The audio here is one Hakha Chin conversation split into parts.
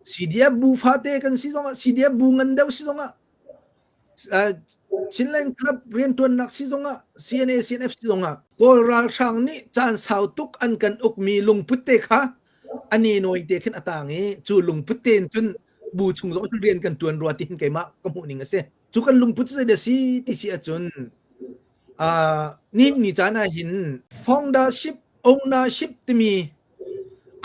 CDF bu fate kan si zongah CDF bu ngan deuh si zongah Chinland Club riantuannak si zongah CNA CNF si zongah Kawl ralhrang nih caan sau tuk an kan ukmi lungput te kha ani noi te khin atang i cu lungput te cun bu chung zong rian kan tuan rua ti hin keimah ka hmuh ning a si cu kan lungput cu zeidah si ti si ahcun uh, ni, ni caan ah hin foundership ownership timi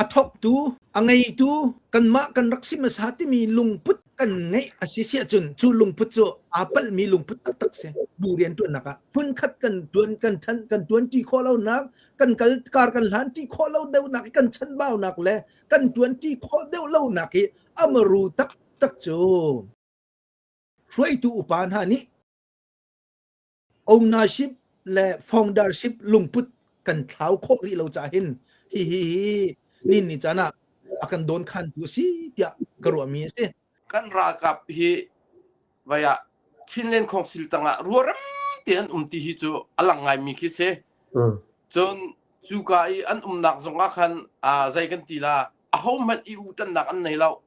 a thawktu a ngeitu kanmah kan rak si hmasa timi lungput kan ngeih a si si ahcun cu lungput cu aa palhmi lungput taktak si bu rian ṭuannak ah phunkhat kan ṭuan kan ṭhan kan ṭuanṭi khawh lonak kan kal kar kan hlanṭi khawh lo deuhnak i kan chanbaunak le kan ṭuanṭi khawh deuh lonak hi amaru taktak cu Hruaitu upa hna nih ownership le foundership lungput kan thlau khawh rih lo caah hin hihi hi ninni caan ah a kan dawnkhantu a si tiah ka ruahmi a si. Kan ralkap hi vai ah Chinland Council tangah ruarem te an um ti hi cu a lang ngaimi khi si. Cun cuka i an umnak zong ah khan zei kan ti la a hohmanh i utannak an nei lo.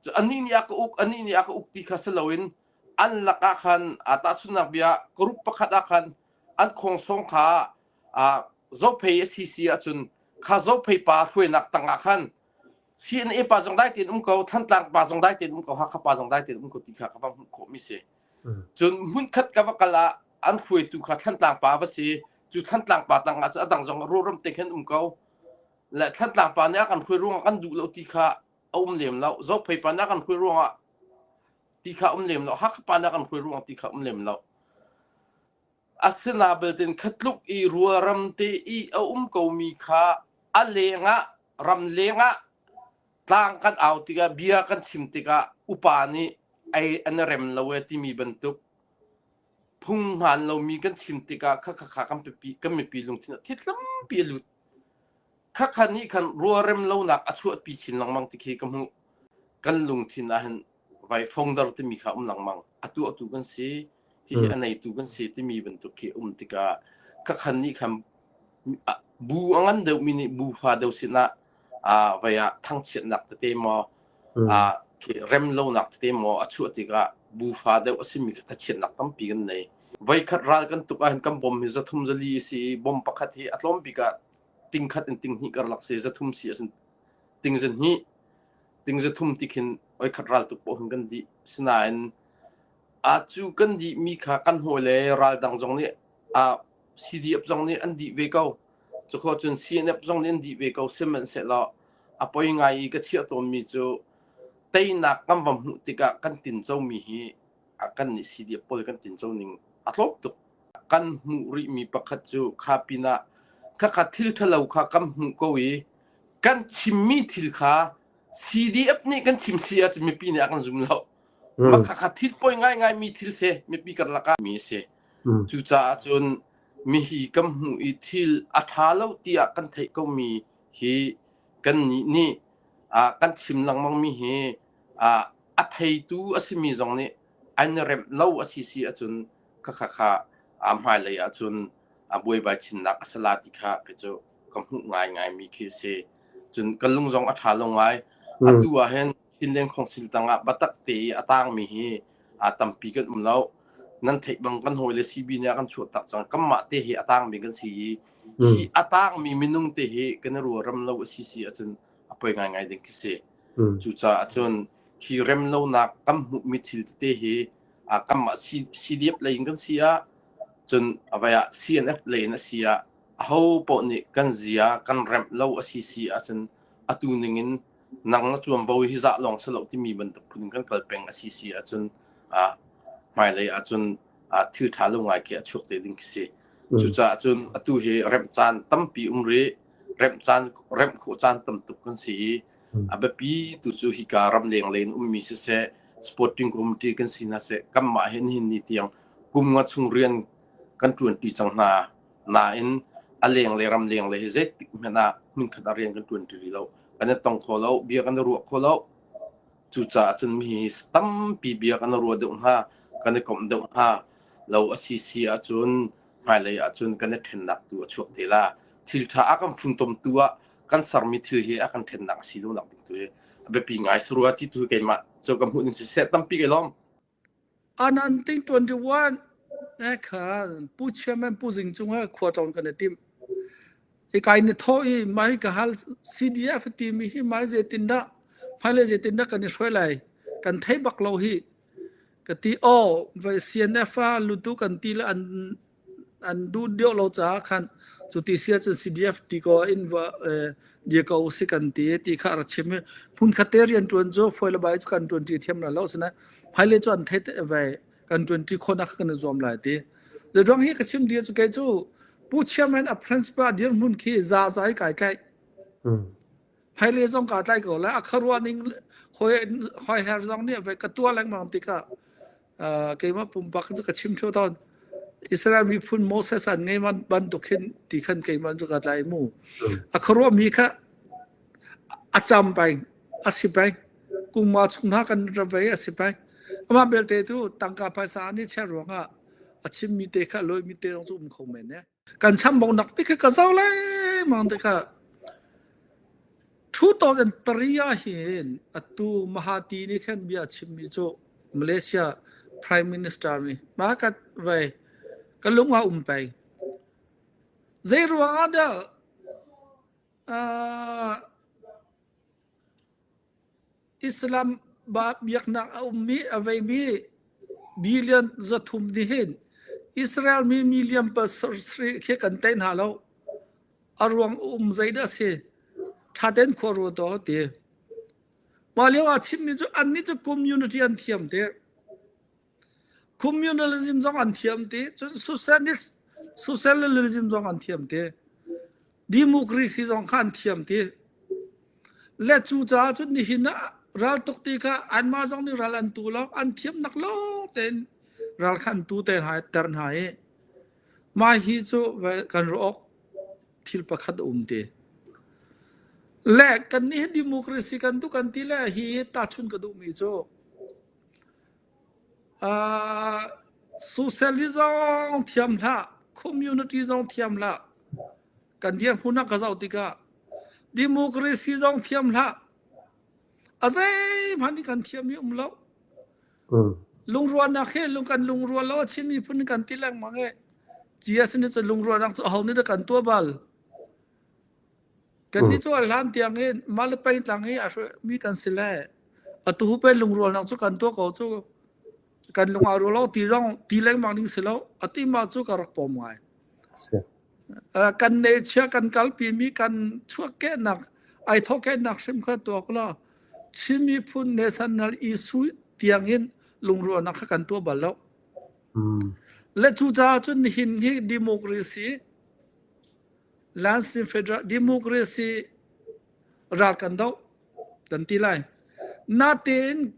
Cu anih nih a ka uk, anih nih a ka uk ti kha si loin an lakah khan aa tahchunhnak bia group pakhat ah khan an khuangsawng kha aa zophei a si si ahcun kha zophei pa hruainak tangah khan CNA pa zong dai tein um ko, Thantlang pa zong dai tein um ko, Hakha pa zong dai tein um ko ti kha ka va hmuh khawhmi si. Cun hmunkhat ka va kal ah an hruaitu kha Thantlang pa va si, cu Thantlang pa tangah cu a dang zong ruram te khan um ko. Le Thantlang pa nih a kan hruai ruangah kan duh lo ti kha a um lem lo zok phei pa na kan hruai ruang ah ti kha um lem lo hakha pa na kan hruai ruang ti kha um lem lo asina belten khatluk i rual ram te i a um ko mi kha a lenga ram lenga tlang kan au tiga bia kan chim tika upa nih ai an rem lo e timi bantuk phung hman lo mi kan chim tika kha kha kha kan pi kan mi pi lung thin thitlam pi lut khakha nih khan rualrem lonak a chuahpi chin lengmang ti khi ka hmuh kan lungthin ah hin vai fongder timi kha um lengmang a tuahtu kan si hihi a neitu kan si timi bantuk khi um tikah khakhan nih khan bu a ngan deuhmi nih bu fa deuh sinah vai ah thangchiatnak tete maw rem lonak tete maw a chuah tikah bu fa deuh a simi ka chiatnak tampi kan nei voikhat ral kan tuk ahhin kan bom hi zathum zali si i bom pakhat hi a tlawm bik ah ting khat in ting hnih karlak se za thum si asin ting zan hi ting za thum ti khin oi khat ral tuk pohun kan di sinain a cu kan di mi kha kan hoi le ral dang zong nih a CDF zong nih an di ve ko cukho cun CNF zong nih an di ve ko semen se lo a poi ngai i ka chiah tawn mi cu teinak kan vam hmuh tikah kan tin co mi hi kan nih CDF pawl kan tinco ning a tlawm tuk kan hmuh rihmi pakhat cu kha pinah khakha thil ṭhalo kha kan hmuh ko i kan chimmi thil kha CDF nih kan chim si ahcun mipi nih a kan zum lo hmm. mah khakha thil poi ngaingai mi thil se mipi kan lakah mi si hmm. cucaah cun mi hi kan hmuh i thil a ṭha lo tiah kan theih komi hi kannih nih kan chim lengmangmi hi a theitu a simi zong nih an remh lo a si si ahcun kha kha kha hmailei ahcun buaibai chinnak a sala ti kha kei cu ka hmuh ngaingaimi khi a si cun ka lung zong a ṭha lo ngai atu ah hin Chinleng khawngsil tangah batak te i a tangmi hi aa tampi kan um lo. Nan theih bang kan hawi le CB nih a kan chuah tak cang. Kanmah te hi a tangmi kan si i, Hmm. hi a tangmi minung te hi kan i ruaram lo a si si ahcun a poi ngaingai ding khi si. Hmm. Cucaah cun hi rem lonak kan hmuhmi thil tete hi aa kanmah C- CDF lei in kan si ah cun avai ah CNF lei in a si ah aho poh nih kan zia kan remh lo a si si ahcun atu ning in nak na tuan bo hi zah lawng si lo timi bantuk phun in kan kal peng a si si ahcun ah hmailei ahcun ah thil ṭha lo ngaiki a chuak te ding khi si. Mm. Cucaah cun atu hi remh caan tampi um rih. Remh caan remh khawh caan tam tuk kan si i mm. a biapi tu cu hika ram leng leng ummi siseh sporting committee kan si na se kanmah hin hin ni tiang kum nga chung rian kan tuan pi cang hna Nain a leng le ramleng le hi zeitik hmanh ah hmunkhat ah rian kan ṭuan ṭi rih lo. Kan i tong kho lo, bia kan i ruah kho lo. Cucaah cun mi hi tampi bia kan i ruah deuh hnga, kan i komh deuh hnga. Lo a si si ahcun hmailei ahcun kan i ṭhennak tu a chuak te la. Thil ṭha a kan funtomtu ah kan sermi thil hi a kan ṭhennak a si lonak ding tu hi a biapi ngai si rua ti tu keimah cu ka hmuh ning siseh tampi kai lawm. An an ting tuan dih uan. Ne khan pu chairman pu zing cungah khua tlawng kan i tim. I kai ni tho i mai ka hal CDF ti mi hi mai zetin dah mai le zetin dah kan i hruai lai kan thei bak lo hi ka ti o vai CNF a lutu kan ti le an an duh deuh lo caah khan cu ti sia cun CDF ti ko in dia ko si kan ti ti kha ra chim i hmun khatte rian tuan cu foile bai cu kan tuan ti thiam la lo sine phaile chu an thei te vai kan tuan ti khona kan zuam lai ti the drong hi ka chim dia chu ke chu pu chairman of principal dir mun khi za zai kai kai phaile zong ka tlai ko la akharwa ning hoi hoi her zong ni ve ka tua leng mang tika keimah pumpak cu ka chim ṭheo tawn. Israel miphun Moses an ngai man bantuk hin ti khan keimah cu ka tla i mu. A khuaruah mi kha a cam peng, a si peng. Kungma chung hna kan ra vei a si peng. Amah belte tu tangka phaisa an i chiah ruangah a chim mi te kha lawih mi te zong cu um kho men e. kan chambok nak pi khi ka zau lengmang tikah ṭhu ah hin atu Mahati nih khan bia a chimmi cu Malaysia Prime Minister nih ma kat vai ka lung a um pei zei ruang ah dah Islam biaknak a ummi a veimi billion zathum nih hin Israel mi million pasarih khi kan tei hna lo. A ruang a um zei dah a si? Ṭha tein khua ruat aw ti. Mah lio ah chimmi cu annih cu community an thiam ti. Communalism zong an thiam ti. Cun socialist socialism zong an thiam ti. democracy zong kha an thiam ti le cu caah cun nihin ah ral tuk ti kha anmah zong nih ral an tu lo an thiam nak lawng tein ral kha an tu te hna ter hna i mai hi cu kan rook thil pakhat um ti le kan ni democracy kan tu kan ti le hi ta chun ka duh mi cu Socialist zong thiam hlah, community zong thiam hlah. Kan dirhmun ah ka zoh tikah democracy zong thiam hlah. A zeihmanh nih kan thiam hi um lo. Lungrualnak he lung kan lungrual lo, Chin miphun nih kan ti lengmang e. GS nih cun lungrualnak cu aho nih dah kan tuah bal? Kan ni cu a hlan tiang in mah le pei tlang i a mi kan si le atu hupen lungrual nang cu kan tua ko cu kan lung a ru lo ti zong ti lengmang ding si lo ati ma cu ka rak pom ngai kan ne chia kan kal pi mi kan chuak ke nak ai thok ke nak hrim kha tua ko la chimi phun national issue tiang in lungrual nak kha kan tua bal lo le chu cha cun hin hi democracy Lansing Federal Democracy ral kan do kan ti lai. Natein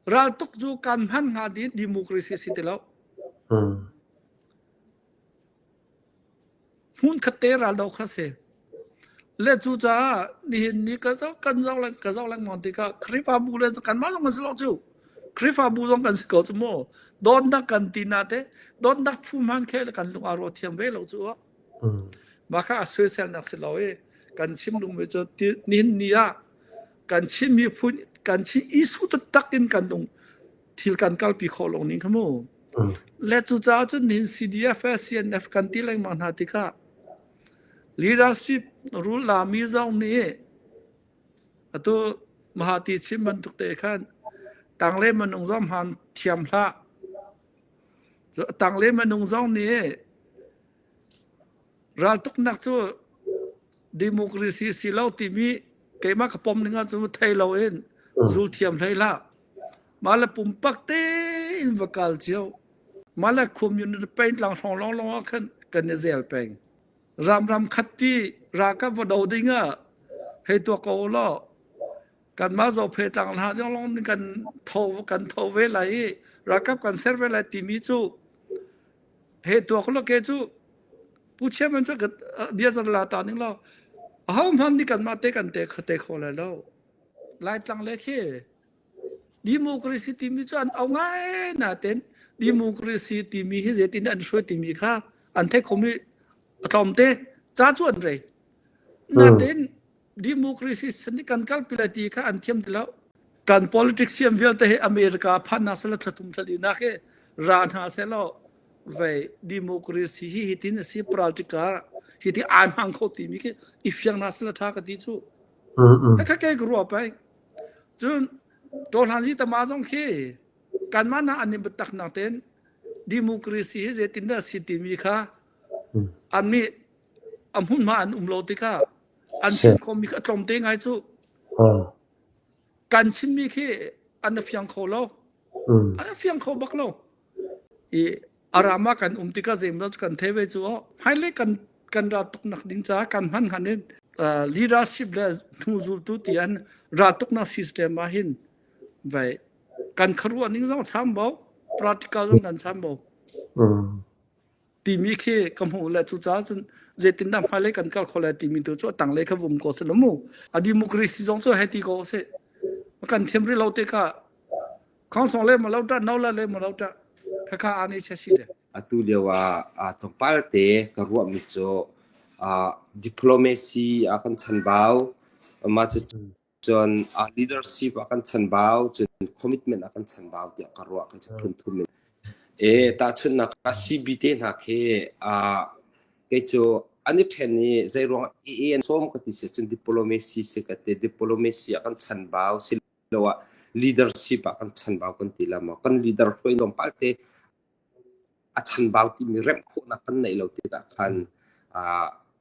ral tuk ju kan hman nga di democracy si te lo. Hun khatte ral do kha se. Le cu ca nihin ni ka zo kan zo lang ka zo lang mon tika khrifa bu le kan ma zong kan si lo chu. Khrifa bu zong kan si ko chu mo. Don dak kan ti na te don dak phu man khe le kan lung aro thiang ve lo chu. Mah kha a soiselnak si lo i kan chim lungmi cu nihin ni ah kan Chin miphun kan Chin issue taktak in kan lung thil kan kalpi khawh lo ning kha mu. Le cucaah cun nihin CDF, CNF kan ti lengmang hna tikah leadership rule lami zong nih atu Mahati Chin bantuk te khan tang le manung zong hman thiam hlah Cu a tanglem a nung zong nih raltuknak cu democracy si lo timi keimah ka pom ning ahcun thei loin zul thiam hlei hlah. Mah le pumpak tein va kal cio. Mah le community pain tlang hrong lawnglawng ah khan kan i zel peng. Ramram khat pi ralkap va do ding ah hei tuah ko u law kanmah zohphe tlang hla ding lawng kan tho kan tho ve lai i ralkap kan ser ve lai timi cu he tuak lo ke cu pu chairman cu bia zan la ta ning lo ho hman ni kanmah te kan te khate kho lai lo lai tlang le khi democracy timi cu an au ngai na ten democracy timi hi zetin an shui timi kha an the khomi atlawmte cha chu an rei na ten democracy san kan kalpi lai ti kha an thiam ti lo kan politics siam vialte he america phanna sala thlatum thlali nak he ra hna se lo vei democracy hi hitin asi political hi ti ai mang kho ti mi khi ifiang na sala tha ka ti chu ka ke ru pai chun to hlan ji tama zong khi kan man na ani betak na ten democracy hi je tin da si ti mi kha ami amun ma an um lo tika an chim khawmi kha a tlawm te ngai cu kan chinmi khi an fiang kho lo an fiang kho bak lo i a rama kan um tikah zeimawzat cu kan thei ve cu oh hmailei kan kan ral tuk nak ding caah kan hman han in leadership le hnuzultu tian ral tuk nak system ah hin vai kan kharuah ning zong cham bo practical zong kan cham bo timi khi ka hmu le cu ca cun zeitin dah hmailei kan kal kho le timi tu cu tanglei kha vum ko se lo mu a democracy zong cu hei ti ko se kan thiam ri lo te ka council le ma lo ta no la le ma lo ta ka ka ani che si de atu lio a a tongpal te ka ruwa mi cho a diplomacy a kan chan bao ma chu Cun leadership ah kan chanbau cun commitment ah kan chanbau tiah ka ruah ka phun thum in e tahchunhnak a CB te hna khi a kei cu an i ṭhen i zei ruang EAN sawm ka ti si cun diplomacy si ka ti diplomacy ah kan chanbau si lo ah leadership ah kan chanbau kan ti la maw kan leader hruai lawng palte a chanbau timi remh khawhnak kan neih lo tikah khan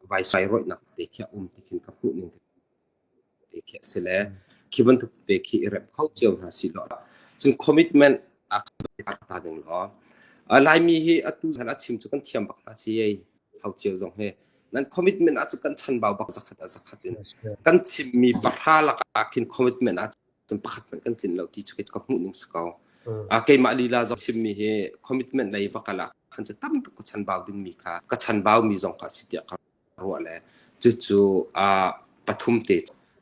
vai sai roinak te khi a um ti khin ka hmuh ning ve khi a si le khi bantuk ve khi i rem kho cio hna si law cun commitment a kan ta ding law Laimi hi atu zan a chim cu kan thiam bak hna ci ei hau cio zong he nan commitment a cu kan chanbau bak zakhat a zakhat in kan chimmi pahra lakah khin commitment a cun pakhat hmanh kan tlin lo ti cu ka hmuh ning si ko a keimah lila zong chimmi hi commitment lei va kala khan cu tam tuk ka chanbau dingmi kha ka chanbau mi zong kha si tiah ka ruah le cucu ah pathum te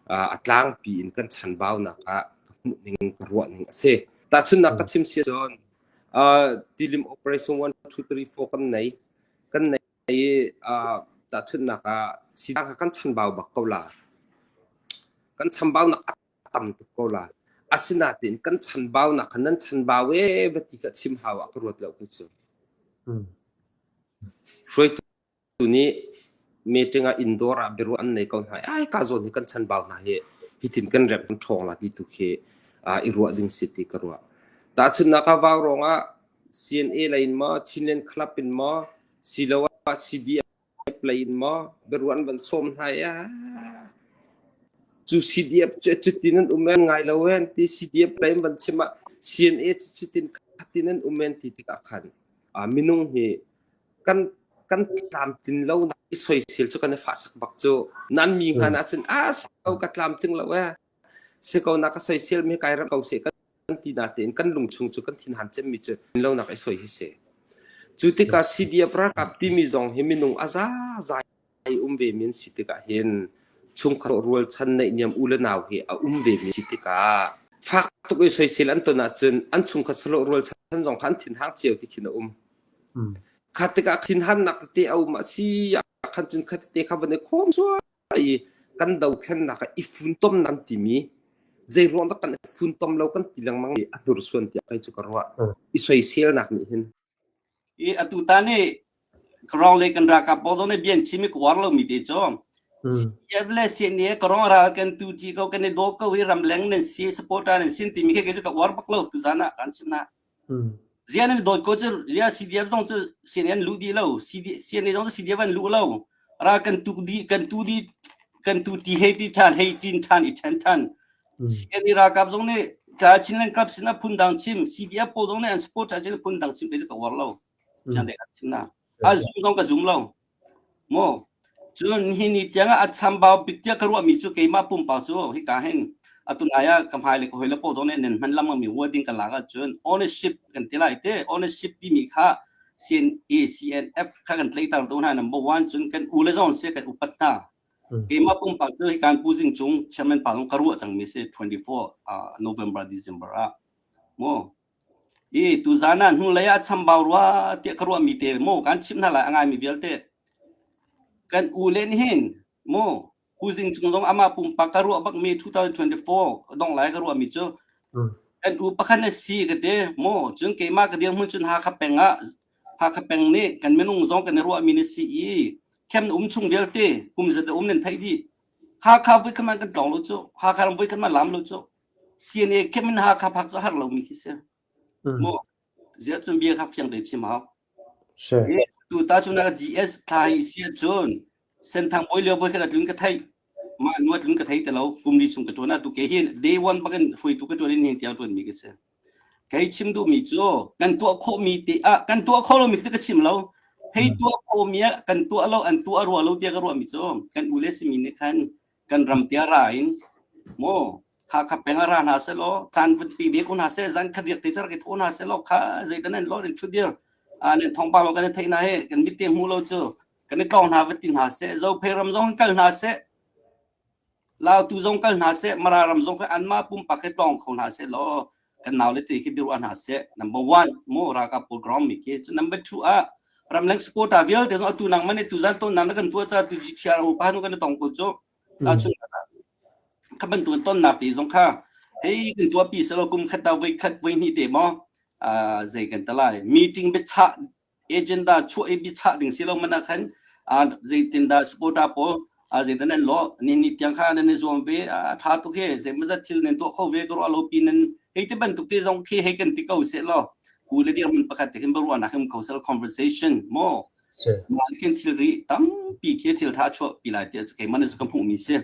a tlangpi in kan chanbaunak ah ka hmuh ning ka ruah ning a si. Tahchunhnak ka chim si cun tilim operation one two three four kan nei kan nei i tahchunhnak ah sidang kan chanbau bak ko la kan chanbaunak a tam tuk ko la asinain kan chanbaunak nan chanbau e va ti ka chim hau ah ka ruat lo ku cu hruaitu Tu nih meeting ah inn dawr ah biaruah an nei ko hna i ai ka zawn hi kan chanbau hna hi hitin kan remh kan ṭhawng la ti tu khi uh, i ruah ding si ti ka ruah. Tahchunhnak ah vau rong ah CNA lei in maw Chinland Club in maw siloah CDF lei in maw biaruah an van sawm hna i ah cu CDF cu cutin an um en ngai lo en ti CDF lei in van chim ah CNA cu cutin khatin an um en ti tikah khan uh, minung hi kan tlamtlin lonak i soisel cu kan i fahsak bak cu nan mi ngan ah cun a ko ka tlamtling lo e si ko na ka soisel mi kai ram ko se kan ti na tein kan lungchung cu kan thin han cem mi cu lo nak i soi hi se cu tikah CDF ralkap timi zong hi minung a za za Ai um vemi an si tikah hin chungkhar rualchan neihniam u le nau hi a um vemi si tikah fak tuk i soisel an ton ahcun an chungkhat salo rualchan zong kha an thinhang cio ti khin a um. Mm. Kha tikah thinhannak tete a um a si khan cun kha tete kha van i khom suai i kan dothlennak i funtom nan timi zei ruang dah kan fun tom lo kan ti lengmang i a hnursuan tiah kai cu ka ruah i soiselnak nih hin i atu ta nih karong le kan ralkap pawl dong nih bian chim i ka uar lomi te cu CDF le CNA karong ral kan tu ti ko kan i do ko i ramleng nan si supporter nan sin timi khi cu ka uar bak lo tu zan ah kan chim na zian nan dawt ko cu ya CDF zong cu CNA lu di lo CNA zong cu CDF an lu lo ral kan tu di kan tu di kan tu ti hei ti than hei tin than i then than CLD ralkap zong nih ca Chinland club sinah phundang chim CDF pawl zong nih an support ca Chinland phundang chim te ka uar lo chian dai chim na a zoom zong ka zoom lo mo cun hi ni tiang a chambau bik tia ka ruah mi cu keimah pumpa cu hi ka hen atunaya kamhai le hoi le po zong nih nen man lam mi wording ka la ga cun ownership kan ti lai te ownership ti mi kha CNA CNF kha kan tlaitar tu hna number 1 cun kan u le zong se kan upat hna Keimah pumpak cu hikan Pu Zing Cung chairman pa zong ka ruah cangmi si 24 November December ah mu i tuzan ah hnulei ah chambau rua tiah ka ruahmi te mu kan chim hna lai a ngaimi vialte kan u le nih hin mu Pu Zing Cung zong amah pumpak ka ruah bakmi 2024 dong lai ka ruahmi cu kan u pakhat na si ka te mu cun keimah ka dirhmun cun Hakha peng ah Hakha peng nih kan minung zong kan i ruahmi na si i khem na um chung vialte kum zat a um nan theih dih Hakha voi khaman kan tlong lo cu Hakha ram voi khaman lam lo cu CNA khem in Hakha phak cu har lomi khi si mu zia cun bia kha fiang te chim hau tu ta cu na GS thai sia cun senthang boi leo voi khat a tlun ka thei ma nu a tlun ka thei te lo kum li chung ka tuan a tu ke hi day one bakin hrui tu ka tuan in hing tiao tuan mi ka se kei chim du mi chu kan tua kho mi te a kan tua kho lo mi te ka chim lo hei tua kho mi a kan tua lo an tua rua lo tia ka rua mi chu kan ule si mi ne khan kan ram tia ra in mo ha kha penga ra na se lo chan vun pi de kun ha se zan khat riak te char ke tho na se lo kha zeitanen lo rin chu dir a nen thong ba lo kan thei na he kan mit te mu lo chu kan i tlawng hna va ti hna seh zophei ram zong kal hna seh lautu zong kal hna seh mara ram zong kha anmah pumpak he tlawng kho hna seh law kan nau le te khi biaruah hna seh number one mo raka program mi ke chu number two ah ramleng supporter vialte zong atu nang mane tu zan ton nan kan tua cha tu ji chia ro pa nu kan tong ko chu ta chun ka ban tun ton na pi zong kha hei kan tua pi selo kum khat ta voi khat voi ni te mo a zei kan tala meeting be cha agenda chuah i biachah ding si lo man ah khan zeitindah supporter pawl zeitan an law ni ni tiang kha nan i zuam ve a tha tuk he zeimazat thil nan tuah kho ve ka ruah lo pi nan hei ti bantuk te zong khi hei kan ti ko se law ku le dir min pakhat te hin baruwa na him kosel conversation mo ma khin thil ri tam pi khi thil tha chuah pi lai ti kai man su ka mu mi se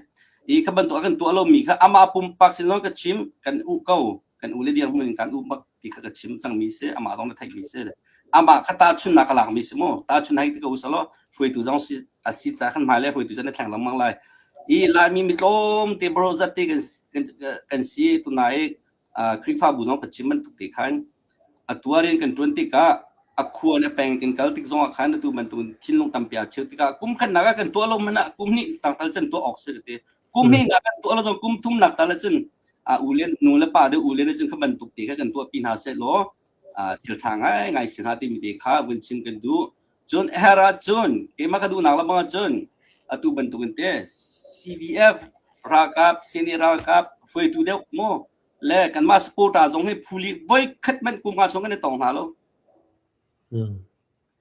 i kha ban to kan tu lo mi kha ama pum pak sin lo ka chim kan u ko kan ule dirhmun in kan u bak ti kha ka chim cangmi si amah zong na theihmi si le amah kha tahchunnak ka lakmi si mu tahchun hai ka usalo hruaitu zong si asi ca kan hmai le hruaitu zong na thleng lengmang lai i laimi mitlom te bro zat te kan kan si tunai krifabu zong ka chim man tuk te khan atuarin kan tuan tika akhuwa na peng kan kal tik zong khan tu man tun thinlung tampia cheu tika kum khan naga kan tua lo mana kum ni tangtal chen tua ok se te kum hringnak kan tuah lo cun kum thumnak tal ahcun a u le nu le pa deuh u le cun kha bantuk ti kha kan tuahpi hna seh law thil tha ngai ngai si hna timi te kha vun chim kan duh cun her ah cun keimah ka duhnak lebang ah cun atu bantukin te CDF ralkap seni ralkap hruaitu deuh maw le kanmah supporter zong hi phuli voi khat man kum nga chung kan i tong hna lo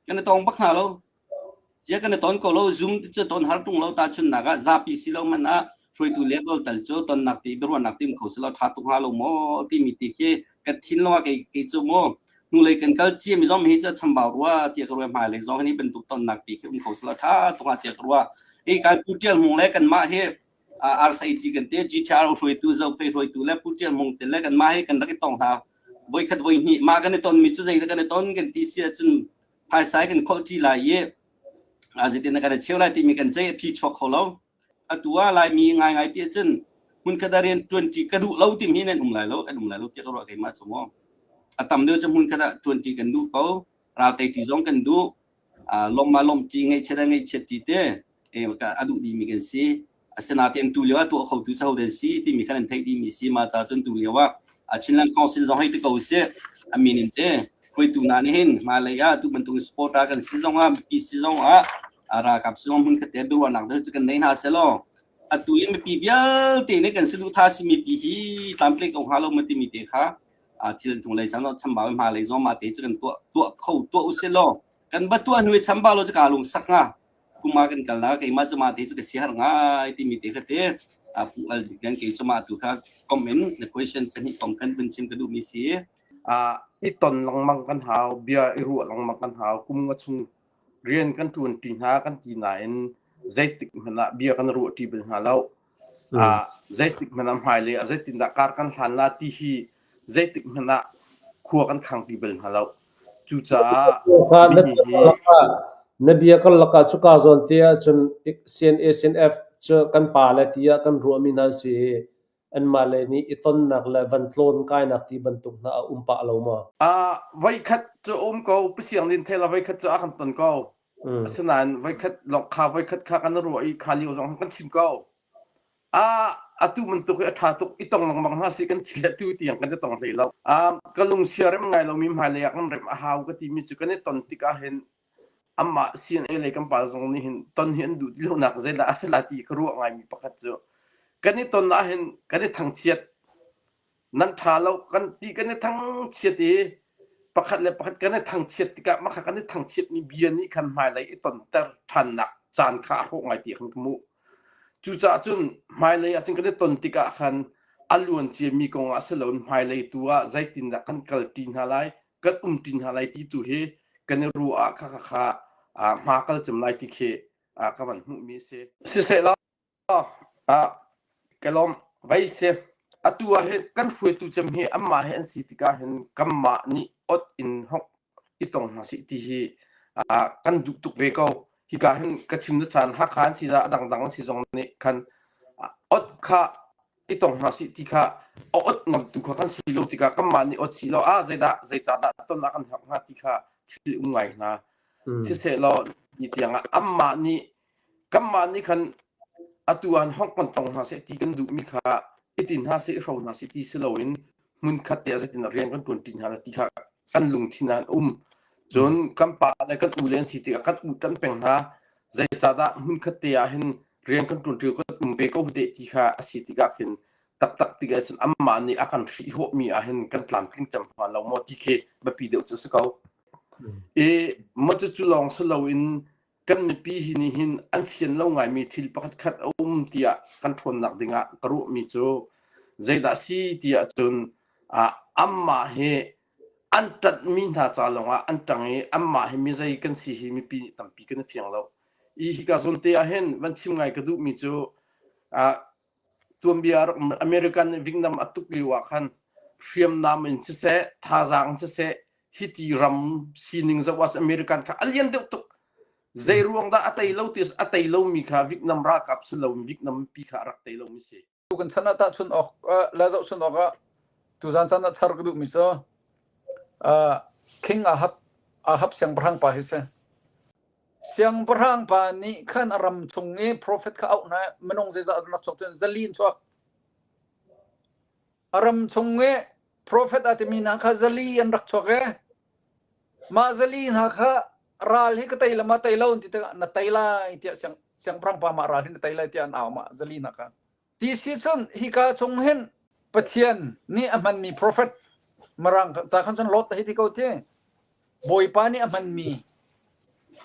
kan i tong bak hna lo cia kan i ton ko lo zoom cu ton har tung lo ta chun nak ah zapi si lo man ah hruaitu level tal cu tonnak ti biaruahnak tim kho selo tha tung ha lo mo ti mi ti khi ka thin lo ke ke chu mo nu lei kan kal chi mi zom hi cha chambau rua ti ka rua mai lei zong ni bentuk tonnak ti khi um kho selo tha tung ha ti ka rua i kan putial hung le kan ma hi RCT kan te GTR hruaitu Zopei hruaitu le Pu Tial Mong te le kan mah he kan rak i tong hna voi khat voi hnih ma kan i ton mi cu zei kan i ton kan ti si ahcun phaisai kan kholh ṭi lai i zitin kan i cheu lai timi kan cei phi chuak kho lo atu ah lai mi ngai ngai ti ahcun hmun khat ah rian ṭuanṭi ka duh lo timi nan um lai lo kan um lai lo tiah ka ruah keimah cung a tam deuh cu hmun khat ah ṭuanṭi kan duh ko ralte ṭi zong kan duh longma lomti ngeihchiat le ngeihchiat ti te a duh dimi kan si asinain tu lio ah tuah khotu caho den si timi kha nan theih dimi si ma ca cun tu lio ah Chinland Council zong hei ti ko sih a min in te hruaitu hna nih hin ma lei ah tu bantuk support a kan si zong ah mipi si zong ah ralkap si zong hmun kate biaruahnak cu kan nei hna selaw atu in mipi vialte nih kan si duh tha si mipi hi tample ko ha lo ma timi te kha thil hnulei cang chambau hmalei zong ma te cu kan tuah tuah kho tuah usih law kan ba tuah hnui chambau lo chu ka lung sak nga kuma kan kal na keima chu ma te chu ka si har ngai ti mi te kha te pu al kan ke chu ma tu kha comment na question kan hi tom kan bin chim ka du mi si a i ton langmang kan hau bia i ru langmang kan hau kum nga chung rian kan tuan ti hna kan ti na in zeitik hmana bia kan ru ti bil hna lo Zeitikhmanh ah hmailei ah zeitindah kar kan hlan la ti hi zeitikhmanh ah khua kan khangpi bal hna lo. Cucaah na bia kan lakah cu kaa zawn te ahcun CNA CNF cu kan pa le ti ah kan ruahmi hna si i anmah le nih i tonnak le van tlawn kainak ti bantuk hna a um pah lo maw? Voikhat cu a um ko. Pasiang din thela voikhat cu a kan ton ko. Asinain voikhat lawng kha voikhat kha kan ruah i kha lio zong kan thim ko. Ah atu bantuk hi a ṭha tuk i tong lengmang hna si kan ti le tu tiang kan i tong hlei lo. Ah ka lungsia rem ngai lomi hmailei ah kan rem a hau ka timi cu kan i ton tikah hin amah sin ei lei kan pal zong nih hin ton hi an duh ti lonak zeidah a si la ti ka ruah ngaimi pakhat cu kan i ton ahhin kan i thangchiat. nan ṭha lo kan ti kan i thangchiat i pakhat le pakhat kan i thangchiat tikah mah kan i thangchiatmi bia nih khan hmailei i tonter ṭhannak caan kha a hawh ngai ti kan hmuh. Cucaah cun hmailei ah kan i ton tikah khan a luan ciami kong ah si loin hmailei tu ah zeitindah kan kalpi hna lai, kan umpi hna lai ti tu hi kan i ruah ah kha kha kha hma kal cem lai ti khi ka van hmuhmi a si. Sisehla ka lawmh vei si. Atu ah hi kan hruaitu cem hi anmah he an si tikah hin kanmah nih ot in hok i tong hna sih ti hi kan duh tuk ve ko. Hika hin ka chim na caan Hakha an si za a dangdang an si zong nih khan ot kha i tong hna sih ti kha a ot ngam tu kha kan si lo tikah kanmah nih ot si lo ah zeidah zeicahdah tonnak an herh hnga ti kha thil um ngai hna. Siseh law ni tiang ah anmah nih kanmah nih khan atu ah hongh kan tong hna seh ti kan duhmi kha hitin hna seh hro hna seh ti si loin hmunkhat te ah zeitin rian kan ṭuanṭi hna ti kha kan lungthin ah an um cun kan pa le kan u le an si tikah kan u kan peng hna zeicahdah hmunkhat te ah hin rian kan ṭuanṭi kan um ve ko de ti kha a si tikah khin taktak tikah cun amah nih a kan hrihhawhmi ah hin kan tlamtling cem hna lo maw ti khi biapi deuh cu si ko i macu cu lawng si loin kan mipi hi nih hin an fian lo ngaimi thil pakhat khat a um tiah kan ṭhawnnak ding ah ka ruahmi cu zeidah si ti ahcun anmah hi an ṭanhmi hna ca lawng ah an ṭang i anmah hi mizei kan si hi mipi tampi kan i fiang lo i hika zawn te ah hin van chim ngai ka duhmi cu Tuanbia rak American nih Vietnam a tuk lio ah khan hriamnam in siseh thazaang in siseh hi ti ram sining zoh ah American kha a lian deuh tuk zei ruang dah a tei lo ti a tei lomi kha Vietnam ralkap si lo Vietnam mipi kha a rak tei lomi si. Kan chan ah tahchun awk la zohchun awk ah tuzan chan ah thar ka duhmi so king ahab ahab siangpahrang pa hi si Siangpahrang pa nih khan a ram chung i profet kha auh hna, minung zeizat a rak chuak cun zali in chuak. A ram chung i profet a timi hna kha zali an rak chuak e. Mah zali hna kha ral hi ka tei lam ah tei lo an ti tikah na tei lai tiah siang, siangpahrang pa mah ral hi na tei lai tiah an au mah zali hna kha. Ti cun hika chung hin Pathian nih a hmanmi profet marang ca khan cun Lot hei ti ko ti Bawipa nih a hmanmi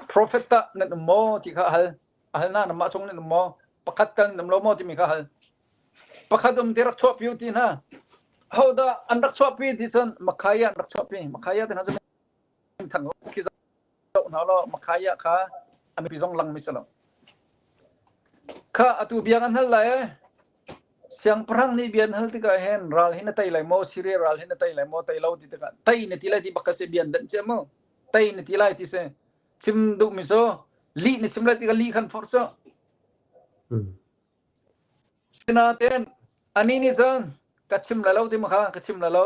profet tah nan um maw ti kha hal a hal na namah chung nan um maw pakhat tal nan um lo maw timi kha hal pakhat um ti rak chuah pi ti hna hodah an rak chuah pi ti cun makhaya an rak chuah pi makhaya te hna cu thang khi doh hna law Makhaiah kha a mipi zong langmi si lo. Kha atu biang an hal lai e. Siangpahrang nih bian hal tikah hen ral hi na tei lai maw Syria ral hi na tei lai maw tei lo ti tikah tei na ti lai ti bak ka se bian den che mu tei na ti lai ti se chim duh mi so li na chim lai tikah li khan for so sinaten ani nih cun ka chim la lo ti ma kha ka chim la lo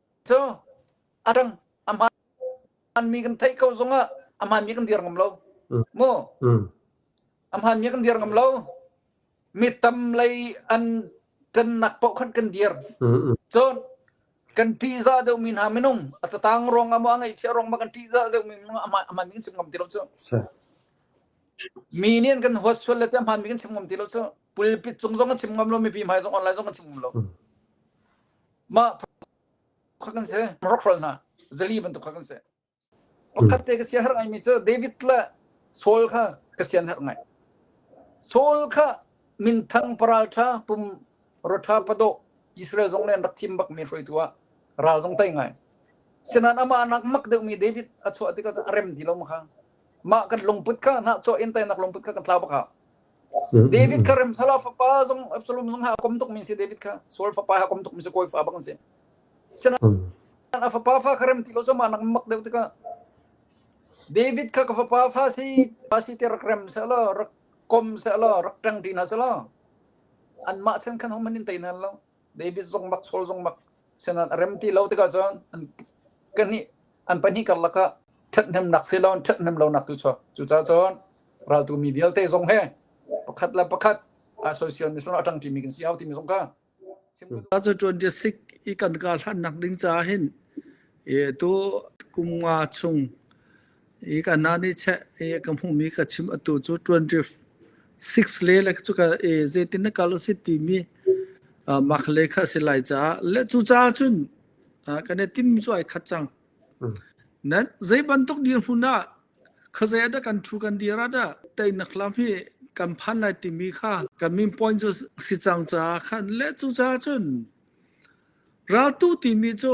Cu a dang a hmaanmi kan theih ko zongah a hmaanmi kan dir ngam lo. Mm. Mu mm. a hmaanmi kan dir ngam lo. Mi tam lei an kan nak paoh khan kan dir. Mm Cun kan pizza deuhmi hna minung a tatang rong ama ngai chia rong ma kan pizza deuhmi minung a hmaanmi kan chim ngam ti lo cu. Mi nih kan huat sual le te hmaanmi kan chim ngam ti lo cu. Pulpit cung zong kan chim ngam lo, mipi hmai zong online zong kan chim ngam lo. Mm. mah kha kan si Morocco ral hna zali bantuk kha kan si pakhat te ka sia har ngai mi cu David le Saul kha ka sian har ngai Saul kha minthang paraltha pum rotha pado Israel zong len rak thim bak mi hruai tua ral zong tai ngai sinan ama nak mak deuh mi David a chuah ti ka a rem ti lo ma kha mah kan lungput kha na chuah in tai nak lungput kha kan tla bak ha David kha Remsalah fapa zong Absalom zong ha a kom tukmi si David kha Saul fapa ha a kom tukmi si kawi fa bang si a fapa fa kha rem ti lo so ma nak mak deuh tikah David kha ka fapa fa si fa si te rak rem sa lo rak kom sa lo rak tang ti na sa lo an mah chen khan hom an in tai na lo David zong bak Saul zong bak senan a rem ti lo tikah cun an kahnih an pahnih karlak ah ṭhathnemnak si lo ṭhathnem lonak tu cucaah cun raltu mi vialte zong he pakhat le pakhat association mission atang ṭimi kan si au timi zong kha cuka cu ṭuan je sik i kan ka hlannak ding caah hin e tu kum nga chung i kan na nih cheh i ka hmumi ka chim atu cu 26 le le cu ka e zeitin na kal usit timi mak le kha si lai caah le cu caah cun kan e tim cu ai khat cang nan zei bantuk dir hmun ah khazai da kan thu kan dir ada tai nak lam hi kan phan lai timi kha kan min point cu si cang caah khan le cu caah cun raltu timi cu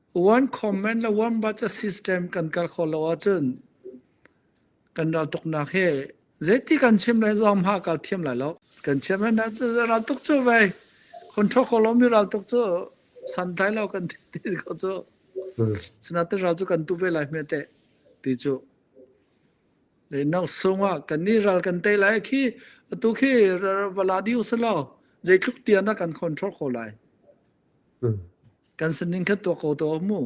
One comment le one budget system kan kal khawh lo ahcun kan raltuknak hi zeiti kan chim le zong hah kal thiam lai lo. Kan chiam hen raltuk cu vei control kho lomi raltuk cu santlai lo kan ti ko cu. Sinaten ral cu kan tu ve lai hme te ti cu. Le nak sung ah kan ni ral kan tei lai khi atu khi vala di usalo zeitluk tian ah kan control kho lai. kan san ding kha tuak ko to mu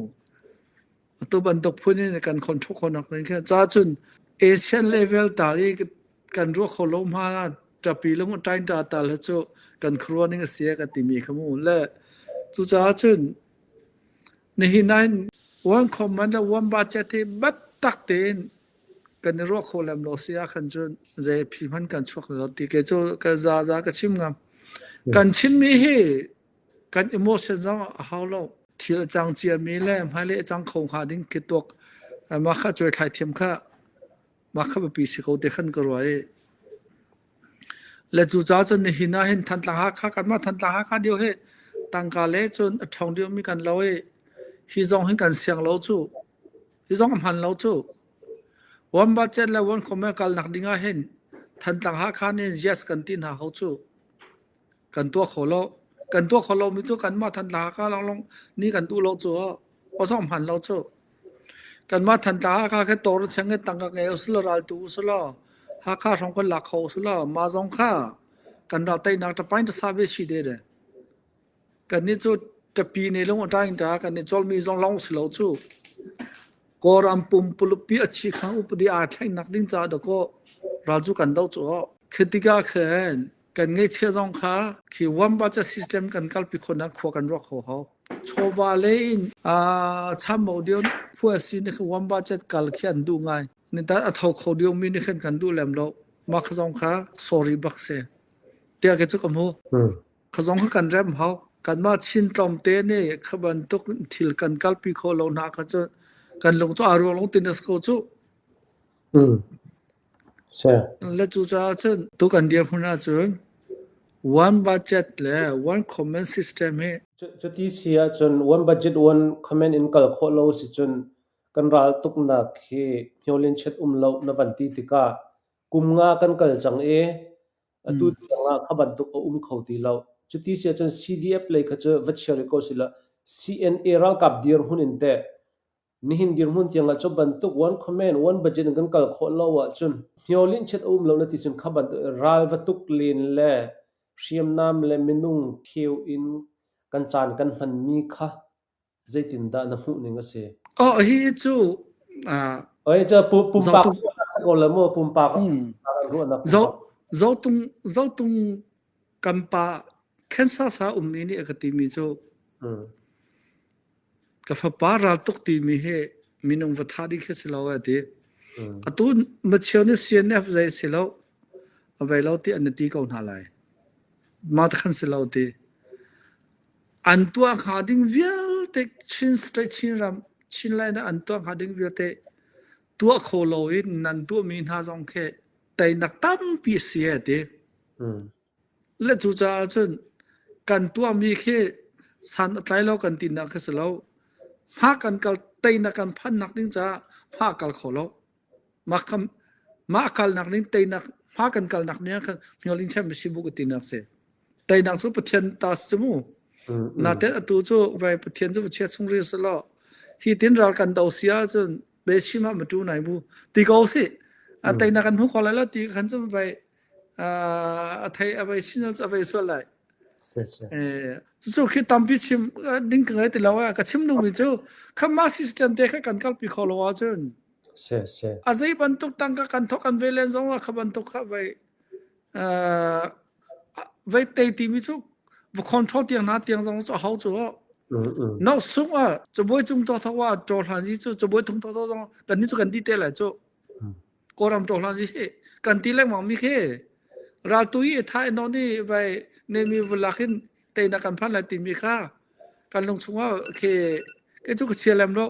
tu bantuk phun in kan khon thuk khonak nin kha cha chun asian level ta i kan ru kho lo ma tapi lung tain ta ta la chu kan khruwa ning sia ka timi khamu le chu cha chun ni hi nine one commander one budget hi bat tak tin kan ro kho lam lo sia khan chun je phil man kan chuak lo ti ke chu ka za za ka chim ngam kan chin mi hi kan emotion zong a hau lo thil a cang ciami le hmailei a cang kho hnga ding khi tuak mah kha cuai thlai thiam kha mah kha biapi si ko te khan ka ruah i le cu ca cun nihin ah hin thantlang hakha kanmah thantlang hakha dio hi tangka le cun a ṭhawng dio mi kan lo i hi zong hin kan siang lo cu hi zong a hman lo cu wan budget le wan khome kal nak ding ah hin thantlang hakha nin yes kan ti hna ho cu kan tuah kho lo. Kan tuah kho lomi cu kanmah thantla haka lawnglawng ni kan duh lo cu awthawng hman lo cu. Kanmah thantla haka khe tor cheng he tangka ngei usula raltu usula Hakha hrawng kan lak kho usula ma zong kha kan ral tainak tapain ta save si de de. Kan ni cu tapi ne lung atain ta kan ni chol mi zong long si lo cu. Kor am pum pulupi achi kha upadi a thlainak ding ca da ko ral cu kan do cu. Khetika khen kan ngeichia zong kha khi warm budget system kan kalpi khona khua kan ruak ho ho chawva le in a chamo dio phua si ne warm budget kal khi an du ngai ni ta atho kho dio mi ni khan kan du lem lo mak zong kha sorry bak se tia ke chu kam hu kha zong kha kan rem hau kan ma chin tlom te ne khaban tuk thil kan kalpi kho lo na kha chu kan lung to aru long tinesco chu Na cucaah cun tuk an dirhmun ahcun one budget le one comment system hi cuti si ahcun one budget one comment in kal khawh lo si cun kan ral tuknak hi hnyawlinchet um lo na van ti tikah kum nga kan kal cang i atu tiang ah kha bantuk a um kho ti lo. Cuti si ahcun CDF lei kha cu va chia rih ko sih law CNA ralkap dirhmun in teh Nihin dirhmun tiangah cu bantuk wan comment, wan budget in kan kal khawh lo ahcun hniolinh chiat a um lo na ti cun kha bantuk ral va tuk len le hriamnam le minung kheu in kan caan kan hmanmi kha zeitindah na hmuhning a si? Oh, hi cu Oi ca pumpak ruahnak ko le maw pumpak ruahnak. Zotung zotung kan pa Kansas ah ummi nih a ka timi cu ka fapa ral tuk timi hi minung va tha ding khi si lo a ti atu machio nih CNF zei si lo avei lo ti an ti ko hna lai ma ta khan si lo ti an tua kha ding vialte chin state chin ram chin lai na an tua kha ding vialte tua kho lo in nan tua mi hna zong khi teinak tampi a si a ti. Le cu caah cun kan tuahmi khi san a tlai lo kan tinak khi si lo. Hma kan kal teinak kan phannak ding caah hma kal kho lo. Mah kam mah kalnak ning teinak hma kan kalnak ning kan hnyol in chem si bu ka tinak se. Teinak cu Pathian ta si mu. Na te atu cu vai Pathian cu chia chung ri se lo. Hi tin ral kan do sia cun be sima ma tu nai bu ti ko si a tai na kan hu ko lai lo ti kan zum bai a thai a bai sin a bai so lai eh su khi tampi chim ding ka ti lo ka chim nu mi chu khama system te kha kan kal pi kho lo wa chun se se a zei ban tuk tang ka kan thok kan ve len zong wa kha ban tuk kha bai Vete timi cu va control tiang na tiang zong cu a ho cu no sung a cabuai cung to tho wa cho hlan ji chu cabuai thung to to zong kan ni chu kan ti te lai chu koram cho hlan ji he kan ti leng mang mi khe ral tu i tha no ni vai ne mi vlak hin te na kan phan lai ti mi kha kan lung chung a khe ke chu ka chia lem lo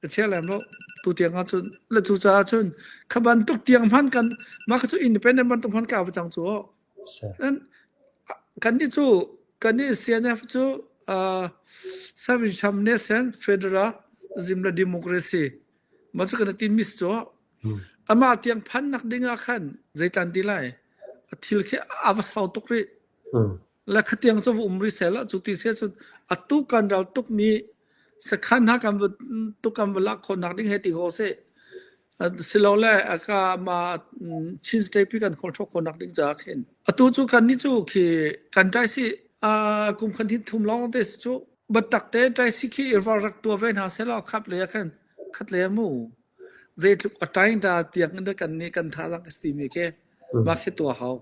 ka chia lem lo tu tiang ah cun la cu caah cun kha bantuk tiang hman kan mah kha cu independent bantuk hman ka va cang cu dan kan ni cu kan ni CNF cu Service Nation Federal Zimla Democracy ma cu kan tin miss cho ama tiang phan nak ding ah khan zeitan ti lai a thil khi ava sau tuk ri le khatiang cu um ri sela cu ti se cun a tu kan ral tuk mi sakhan ha kan tu kan va lak khon nak ding he ti ho se silo le aka ma chin state pi kan khon thok khon nak ding cha khin atu chu kan ni chu khi kan trai si a kum khan hin thum long this chu batak te trai si khi irwa rak tua ve na se lo khap le khan khat le mu zei tluk atain ta tiang de kan ni kan tha lang esti mi ke ma khi tua hau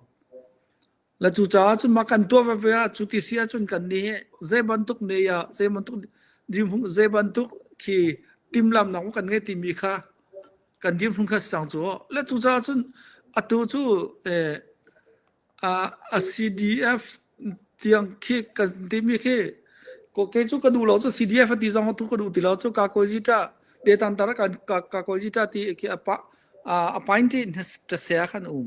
La cu caah cu ma kan tuah veve ah cu ti si ahcun kan nih hi zei bantuk ne ya zei bantuk dimhung zei bantuk khi timlam nak kan ngei timi kha kan dimhung kha sang cu la cu caah cun atu cu eh, a CDF tiang khi kan timi khi ko ke cu ka duh lo cu CDF ti zong tu ka duh ti lo cu ka koi ji ta de tan tar ka ka koi ji ta ti khi apa appointed ta sia khan um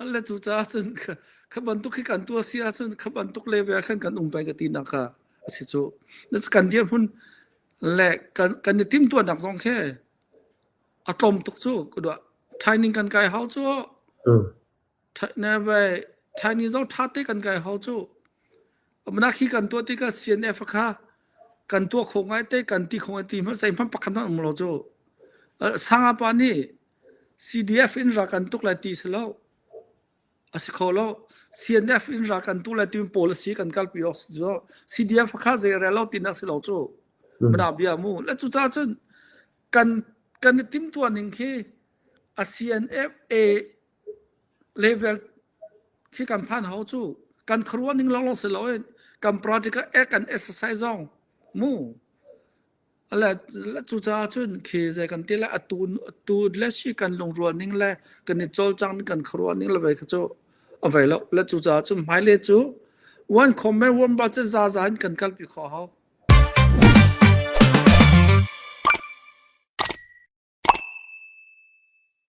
Alle cu caah cun kha, kha bantuk khi kan tuah si ahcun kha bantuk level ah khan kan um peng ka tinak kha a si cu. Kan dirhmun le kan, kan i timhtuahnak zong khi a tlawm tuk cu ka duah. Training kan kai hau cu. Ne vai Chinese zong tha te kan kai hau cu. Amna khi kan tuah tikah CNF kha kan tuah khawh ngai te kan ti khawh ngai ti hmanh sei hmanh pakhat hmanh um lo cu. Sanga pa nih CDF in ral kan tuk lai ti si lo. A si kho lo. CNF in ral kan tuk lai timi policy kan kalpi awk si cu. CDF kha zei rel lo tinak si lo cu. Midang bia mu. Le cucaah cun kan kan i timtuah ning khi a CNF a level khi kan phan hau cu. Kan khuaruah ning lawnglawng si lo in kan project a kan exercise zong mu. Cucaah cun khi zei kan ti le atu atu le si kan lungrual ning le kan i cawlcang ning kan khuaruah ning le vei kha cu a vei lo. Le cucaah cun hmaile cu one comment one ba cu zaza in kan kalpi khawh hau.